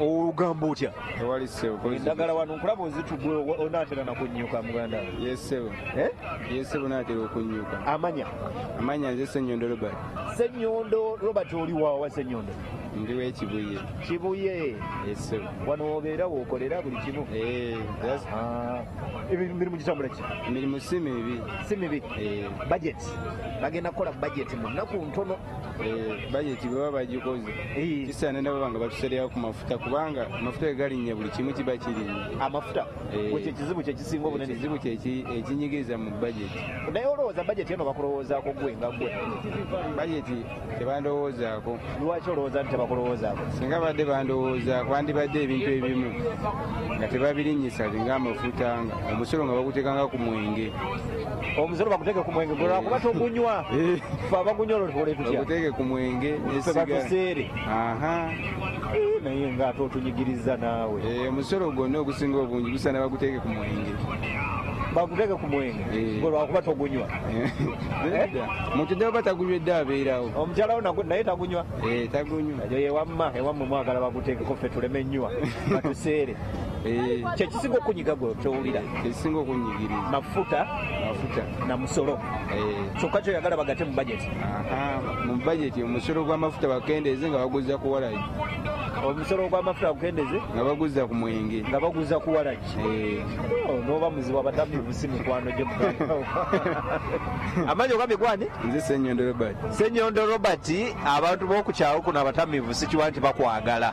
olugamba otya ewali sebo endagala wano nkulaba ozitugwe onatera nakunyuka muganda yesebo eh? yesebo natera okunyuka amanya amanya nze senyondo robert senyondo robert oli wawa senyondo ndi wekibuye kibuye yesebo wano obeera wokolera buli kimu eh, ah. emirimu gitambula ki emirimu si mibi si mibi eh. budget bagenda kukola budget mu nnaku ntono Eh, bajeti baba bagikoze eh. kisaana nabo banga batusereyawo ku mafuta kubanga amafuta gegalinnya buli kimu kiba kirinnya amafuta eh. ekyo ekizibu kyekisinga obunene ekizibu kyekinyigiriza mu bajeti naye olowooza bajeti eno bakulowoozaako gwe nga gwe bajeti tebandowoozaako lwaki olowooza nti tebakulowoozaako singa badde bandowoozaako bandibadde ebintu ebimu nga tebabirinnyisa nga amafuta nga omusolo nga baguteekanga ku mwenge omusolo baguteke ku mwenge gwe lwakuba togunywa eh. fe abagunywa olwo tukole tutyaguteke ku mwenge fe batuseere eh, naye nga ate otunyigiriza naawe eh, omusolo gwonna ogusinga obungi gusana baguteke ku mwenge baguteke ku mwenge gwe lwakuba togunywa mutudde oba tagunywa edde abeerawo omukyalawo naye tagunywa tagunywa eyo yewamma ewammwe mwagala bagutekeko fe tuleme nywa batuseere Eh. kyekisinga okunyiga gwe kyowulira ekisinga okunyigiriza mafuta mafuta na musolo eh. kyokka kyoyagala bagate mu bajeti mu bajeti omusolo gw'amafuta bakendeeze nga baguza ku walagi omusolo gw'amafuta bagukendeeze nga baguza ku mwenge nga baguza ku walagi eh. oh, noba muzibu abatambi busi mikwano gye amanyi ogambye gwani nze senyondo robert senyondo robert abantu b'okukyawo kuno abatamivu sikiwa nti bakwagala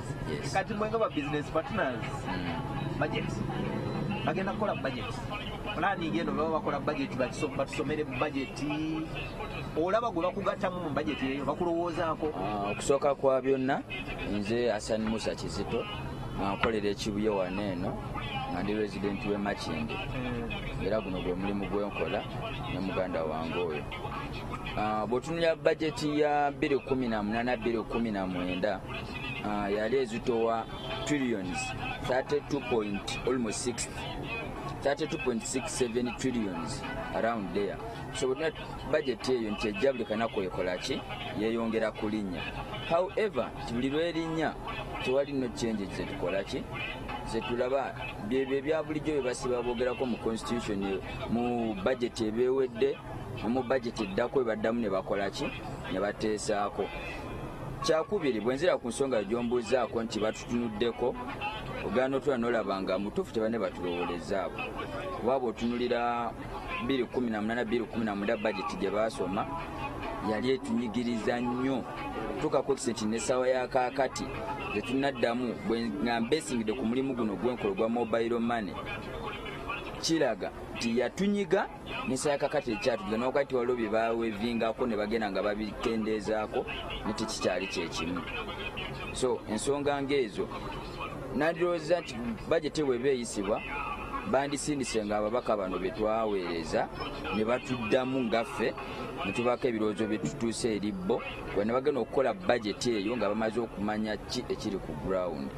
kati mwenga ba business partners hmm. budget bagenda kukola budget planning eno baba bakola budget batusomere budget olaba gwe bakugattamu mu budget eyo bakulowoozaako ah, okusooka kwa byonna nze asan musa kizito nkolera ekibuye wano eno nga ndi resident we makinde hmm. era guno gwe mulimu gwenkola ne muganda wange oyo ah, bwetunulira bajeti ya 218 219 uh, yali ezitowa trillions 32.67 trillions around there so not budget eyo nti ejja buli kanaku ekolaki yeyongera kulinnya however buli lwerinnya tewali no change zetukolaki zetulaba byebyo ebyabulijjo byebasiba bogerako mu constitution mu budget ebewedde omu budget eddako ebaddamu nebakolaki nebateesaako kyakubiri bwenzira ku nsonga gyombuuzaako nti batutunuddeko ogana otula nolaba nga mutuufu tebane batulowoleza abo waaba otunulira 218 bajeti gye baasoma yali etunyigiriza nnyo tukakozesa nti nesawa yakakati tetunaddamu nga mbesingidde ku mulimu guno gwenkola ogwa mobile money kiraga nti yatunyiga minsa ya kakati ekyatudde nokati waliwo bye bawevingako ne bagenda nga babitendeezaako ne tekikyali kyekimu so ensonga ngaezo nandirowooza nti bajeti bweba eyisibwa bandisindise nga ababaka bano be twaweereza ne batuddamu ngaffe ne tubaako ebirowoozo bye tutuuse eri bo kwe ne bagenda okukola bajeti eyo nga bamaze okumanya ki ekiri ku gurawundi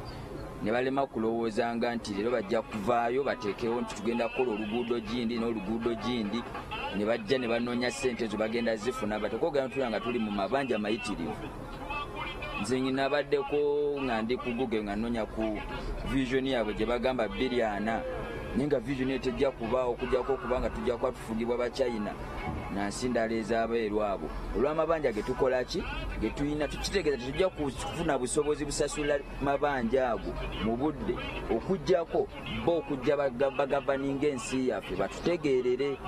ne balema kulowoozanga nti leero bajja kuvaayo bateekewo nti tugenda kukola oluguudo gindi n'oluguudo gindi ne bajja ne banoonya ssente ezo bagenda zifuna batekogera ntula nga tuli mu mabanja mayitirivu nze nginabaddeko nga ndi ku google nga noonya ku visioni yaabwe gye bagamba bbiri ana naye nga vision eyo tejja kubaawo okujjako okuba nga tujja kuba tufugibwa bachina nansi ndala ezabeeru abo olw'amabanja ge tukola ki ge tulina tukitegeeza tetujja kufuna busobozi busasula mabanja ago mu budde okujjako bo okujja bagavaninga ensi yaffe batutegeerere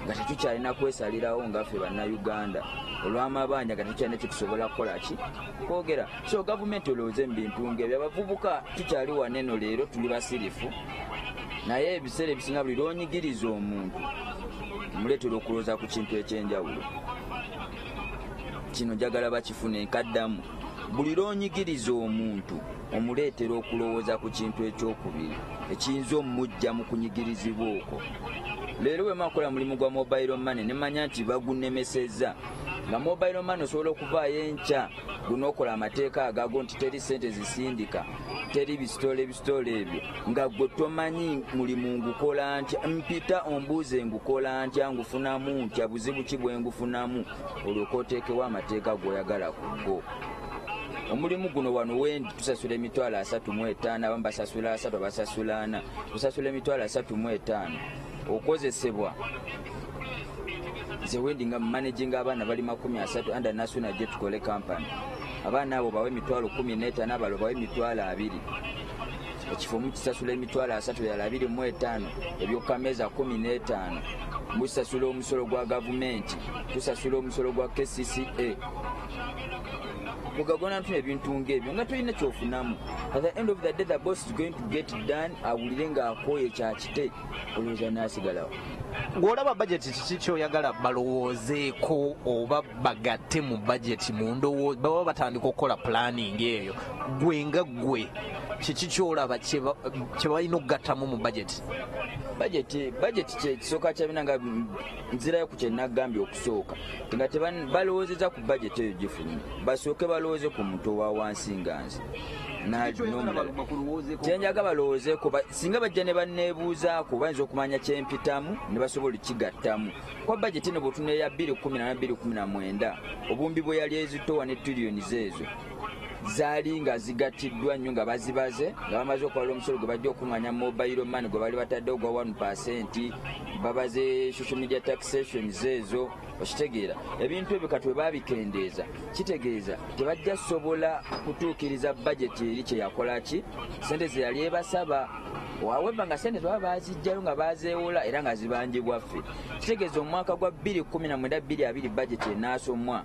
nga tetukyalina kwesalirawo ngaffe bannayuganda olwamabanja nga tetukyalina kyetusobola kukola ki kwogera so gavumenti olowooze mu bintu ngebyo abavubuka tukyali waneno leero tuli basirifu naye ebiseera ebisinga buli lwonyigiriza omuntu muleetera okulowooza ku kintu ekyenjawulo kino njagala bakifune nkaddamu Buli lw'onyigiriza omuntu omuleetera okulowooza ku kintu eky'okubiri ekiyinza omujja mu kunyigirizibwa okwo. Leero bwe makola mulimu gwa mobayiro mane ne manya nti bagunnemesezza nga mobayiro mane osobola okuvaayo enkya gunookola amateeka agago nti teri ssente zisindika teri bisitoola ebisitoola ebyo nga gwe tomanyi mulimu ngukola ntya mpita ombuuze ngukola ntya ngufunamu ntya buzibu ki bwe ngufunamu olyoke oteekewo amateeka g'oyagala ku go omulimu guno wano wendi tusasula emitwalo asatu mu etaano abamu basasula asatu abasasula ana tusasula emitwalo asatu mu etaano okozesebwa nze wendi nga mumanaging abaana bali makumi asatu anda nasuna gye tukole kampani abaana abo bawe emitwalo kumi n'etaano abalo bawe emitwalo abiri ekifo mukisasula emitwalo asatu yala abiri mu etaano ebyokukameeza kumi n'etaano musasula omusolo gwa gavumenti tusasula omusolo gwa kcca mugagona ntuna ebintu ngaebyo nga tolina kyofunamu at the end of the day the boss is going to get done awulire ng'akooye kyakite olowooza nasigalawo gwolaba bajeti kiki kyoyagala balowoozeeko oba bagatte mu bajeti mu ndowooza baba batandika okukola pulaningi eyo gwe nga gwe kiki kyolaba kyebalina okugattamu mu bajeti bajeti bajeti kyekisooka kyabina nga nzirayo ku kyenagambye okusooka nga balowoozeza ku bajeti eyo gifuluma basooke balowooze ku muntu owa wansi nga nze kyenjaga balowoozeeko singa bajja ne banneebuuzaako bayinza okumanya kyempitamu ne basobola okigattamu kuba bajeti ne bwotuneeya 219 obuwumbi bwe yali ezitowa ne tuliyoni zeezo zaali nga zigattiddwa nnyo nga bazibaze nga bamaze okwala omusolo gwe bajja okukunganya mobile money gwe bali batadde ogwa 1 percent babaze social media taxations ezo okitegeera ebintu ebyo kati webabikendeeza kitegeeza tebajja sobola kutuukiriza bajeti eri kyeyakola ki sente zeyali ebasaba wawemba nga sente zebaba bazijjayo nga bazeewola era nga zibanjibwaffe kitegeeza omwaka gwa 219 bajeti enaasomwa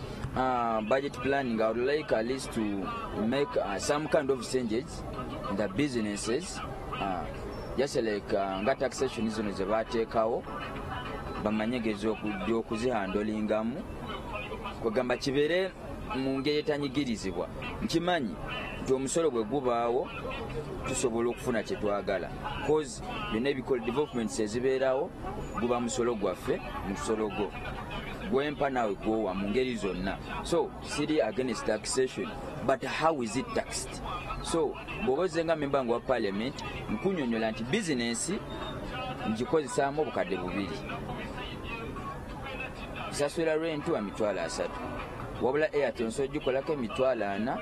Uh, budget planning, I would like at least to make uh, some kind of changes in the businesses. Uh, just like uh, nga taxation zino ze bateekawo bamanyegezi okuzihandolingamu kwegamba kibeere mu ngeri etanyigirizibwa nkimanyi nti omusolo bwe gubaawo tusobola okufuna kye twagala byonna ebikola developments ezibeerawo guba musolo gwaffe musolo gwo gwempa nawe gwowa mu ngeri zonna so siri against taxation but how is it taxed so bwoba ozenga memba nga wa parliament nkunyonyola nti bizinensi ngikozesaamu obukadde bubiri nsasula lwentu wa mitwalo asatu wabula airtel nsobola gikolako emitwalo ana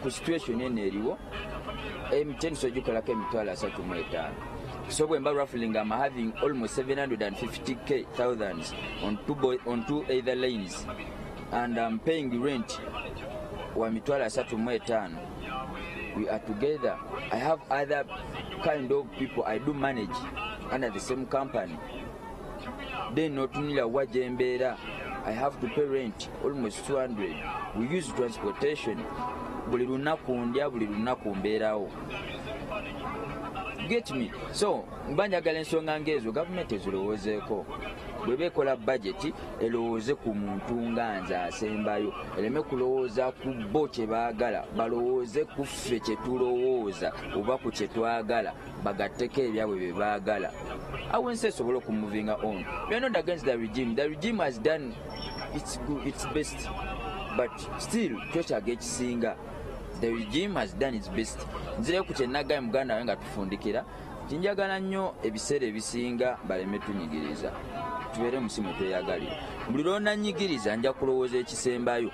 ku situation eno eriwo mtn sogikolako emitwalo asatu mu etaano so bwemba ruffling am having almost 750k thousands on two, boy, on two either lanes and am paying rent wa mitwalo asatu mu etaano we are together i have other kind of people i do manage under the same company then notunira wa gyembeera i have to pay rent almost 200 we use transportation buli lunaku ndya buli lunaku mbeerawo get me so mba njagala ensonga ngaezo gavumenti ezirowoozeeko bweba ekola bajeti elowooze ku muntu nga nze asembayo eleme kulowooza ku bo kye baagala balowooze ku ffe kye tulowooza oba ku kye twagala bagatteko ebyabwe bye baagala awo ensi esobola okumuvinga on you're not against the regime the regime has done its, good, its best but still twekyaga ekisinga the regime has done its best nzireyo ku kyenagaye muganda wawe nga tufundikira tinjagala nnyo ebiseera ebisinga baleme tunyigiriza tubeere musi mwe tweyagalira buli lwonanyigiriza nja kulowooza ekisembayo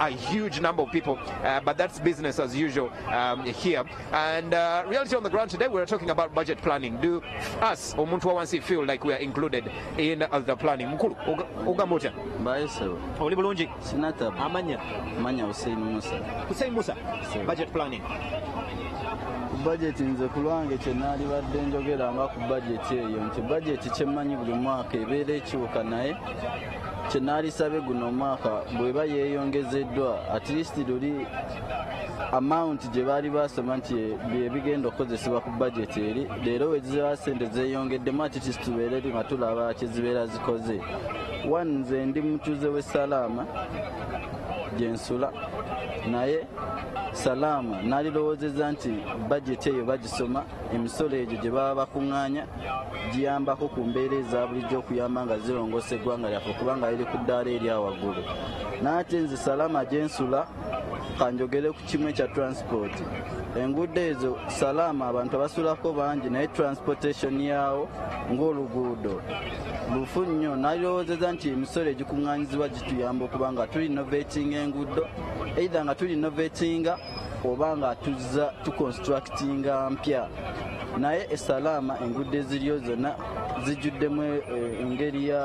a huge number of people, uh, but that's business as usual um, here. And uh, reality on the ground today, we're talking about budget planning. Do us, Omuntu Wawansi, feel like we are included in uh, the planning? Mkulu, Ugambocha. Baeso. Oli bulungi? Sinata. Amanya. Amanya Hussein Musa. Hussein Musa. Sir. Budget planning. bajeti nze ku lwange kye naalibadde njogera nga ku bajeti eyo nti bajeti kyemmanyi buli mwaka ebeera ekiwuka naye kyenaalisabye guno omwaka bweba yeeyongezeddwa at least luli amount gye baali basoma nti byebigenda okukozesebwa ku budget eri leero weziba sente zeeyongeddemu ati tisitubeere nga tulaba kyezibeera zikoze one nze ndi mutuuze w'e salaama gyensula naye salaama nalirowoozeza nti bajeti eyo bagisoma emisolo egyo gye baba bakuŋŋaanya giyambako ku mbeera eza bulijjo okuyamba nga zirongoosa eggwanga lyaffe okubanga liri ku ddaala erya waggulu naate nze salama gyensula kanjogere ku kimu ekya transport enguudo ezo salama abantu abasulako bangi naye transportation yaawo ng'oluguudo lufu nnyo nalirowoozeza nti emisolo egikuŋŋanyizibwa gituyamba okuba nga tuli novetinga enguudo eitha nga tuli novetinga oba nga tuzza tuconstructinga mpya naye esalaama enguudo eziriyo zonna zijjuddemu eh, engeri ya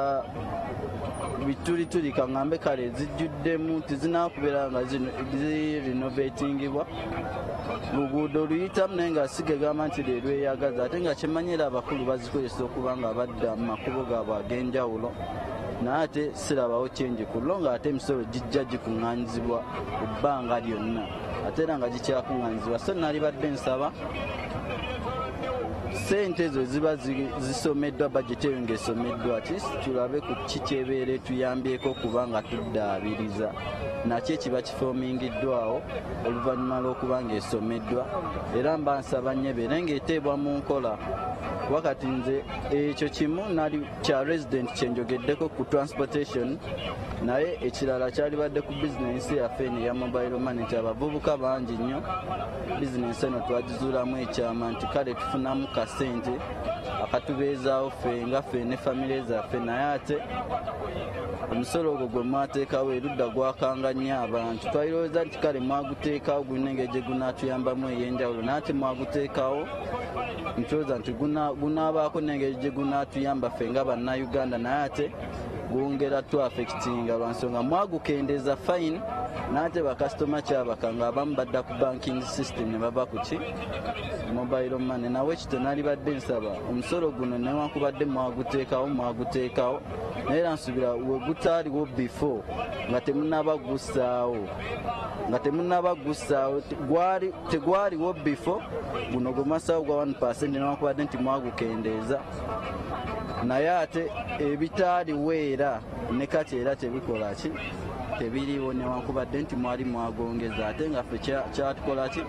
bitulituli kaŋambe kale zijjuddemu tizinakubeera nga zirinovatingibwa luguudo oluyitamu naye nga siga egamba nti lelweyagaza ate nga kyemanyira abakulu bazikozesa okuba nga badda mu makubo gaabwe ag'enjawulo naye ate sirabawo kyenje ku lwo ng'ate emisolo gijja gikuŋŋanyizibwa ku bbanga lyonna ate era nga gikyakuŋŋanyizibwa so nalibadde nsaba sente ezo ziba zisomeddwa bajeti eyo ng'esomeddwa tulabe ku ki kyebeera etuyambyeko okuba nga tuddaabiriza nakyo ekiba kifoomingiddwawo oluvannyuma lw'okuba ng'esomeddwa era mba nsaba nnyo ebeere ng'eteebwa mu nkola wakati nze ekyo kimu nali kya resident kyenjogeddeko ku transportation naye ekirala kyalibadde ku bizinensi yaffe eno eya mobile money nti abavubuka bangi nnyo bizinensi eno twagizuulamu ekyama nti kale tufunamu kasente akatubeezaawo ffe nga ffe ne famire zaffe naye ate omusolo ogwo gwe mwateekawo erudda gwakanga nnyo abantu twalirowooza nti kale mwaguteekawo gulina engeri gye gunaatuyambamu ey'enjawulo naye ate mwaguteekawo ntyoza nti gunaabaako n'engeri gye gunaatuyamba ffe nga bannayuganda naye ate gwongera tu affectinga lwansonga mwagukendeza fine nate bakasitoma kyabaka nga abamu badda ku banking system ne bava ku ki mobile money nawe ekito nalibadde nsaba omusolo guno newankubadde mwaguteekawo mwaguteekawo naye era nsubira wegutaaliwo before nga temunaba gussaawo nga temunaba gussaawo tegwaliwo bifo guno gwe mwassaawo gwa 1 percent newankubadde nti mwagukendeeza naye ate ebitaaliwo era ne kati era tebikola ki tebiriiwo newankubadde nti mwali mwagongeza ate nga ffe kyatukola ki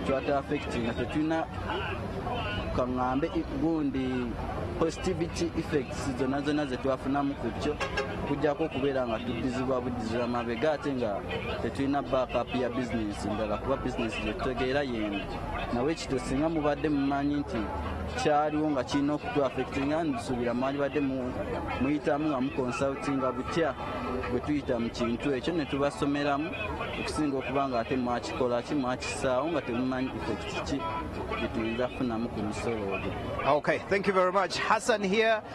twata affect nga tetulina kaŋŋambe gundi positivity effects zonna zonna zetwafunamu ku kyo kujjako okubeera nga tuddizibwa buddizibwa mabega ate nga tetulina backup ya bizinesi ndala kuba bizinesi gyetutegeera yemu nawe ekito singa mubadde mumanyi nti kyaliwo nga kirina okutu affectinga nsuubira mwalibadde muyitamu nga muconsultinga butya bwe tuyita mu kintu ekyo ne tubasomeramu okusinga okuba nga ate mwakikola ki mwakisaawo nga temumanyi effect ki gyetuyinza kufunamu ku musolo ogwo okay thank you very much hassan here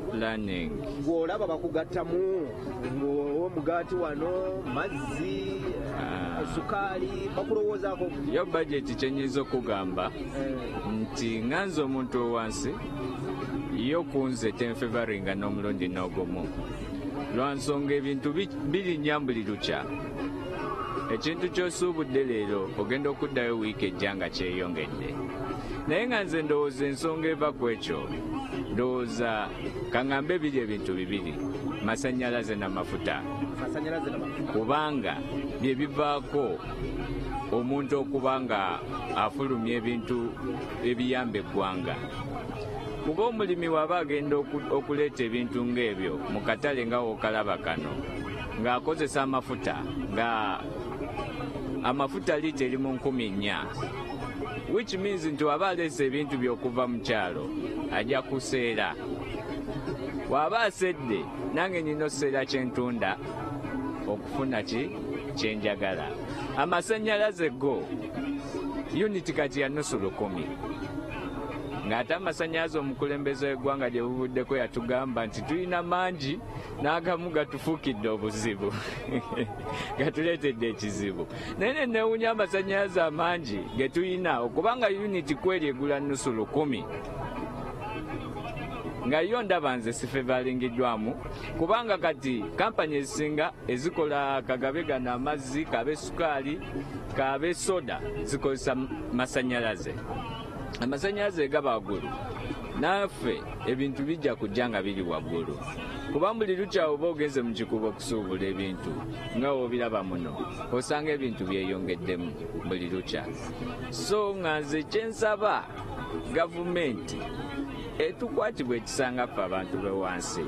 planning ng'olaba bakugattamu ng'omugaati wano mazzi ah. sukaali bakulowoozaako yo bajeti kyenyinza okugamba eh. nti nga nze omuntu owansi yo kunze tenfevaringa n'omulundi n'ogumu lwa nsonga ebintu birinya buli lukya ekintu kyosuubudde leero ogenda okuddayo wiiki ejja nga kyeyongedde naye nga nze ndowooza ensonga eva ku ekyo ndowooza kaŋambe biri ebintu bibiri masannyalaze n'amafuta kubanga bye bivaako omuntu okuba nga afulumya ebintu ebiyamba eggwanga kuba omulimi waba agenda okuleeta ebintu ng'ebyo mu katale nga wokalaba kano ng'akozesa amafuta nga amafuta liita eri mu nkumi nnya which means nti waba aleese ebintu by'okuva mu kyalo ajja kuseera waba asedde nange nina oseera kyentunda okufuna ki kyenjagala amasannyalaze go uniti kati ya nusu lukumi ng'ate amasannyalaze omukulembeze w'eggwanga gye buvuddeko yatugamba nti tulina mangi n'agamu gatufukidde obuzibu gatuleetedde ekizibu naye ne newunya amasannyalaze amangi ge tulina okubanga uniti kweri egula nnusu lukumi nga yo ndaba nze sifevalingiddwamu kubanga kati kampani ezisinga ezikola kagabe gano amazzi kabe sukaali kabe soda zikozesa masannyalaze amasannyalaze gaba waggulu naffe ebintu bijja kujja nga biri waggulu kuba buli lukya oba ogenze mu kikuba okusuubula ebintu nga wobiraba muno osanga ebintu byeyongeddemu buli lukya so nga nze kyensaba gavumenti etukwatibwa ekisanga ffe abantu be wansi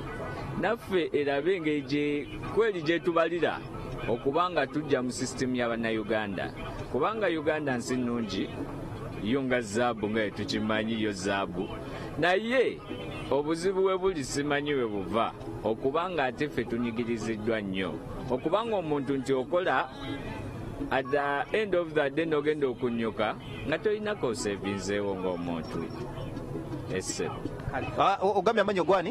naffe erabe engeri kweri gyetubalira okuba nga tujja mu sisitemu y'abannayuganda kubanga uganda nsi nnungi yo nga zaabu nga etukimanyi yo zaabu naye obuzibu we buli simanyi we buva okuba nga ate ffe tunyigiriziddwa nnyo okuba nga omuntu nti okola at the end of the day nogenda okunyuka nga tolinako osevinzeewo ng'omuntu esebo ah, ogambye amanyi ogwani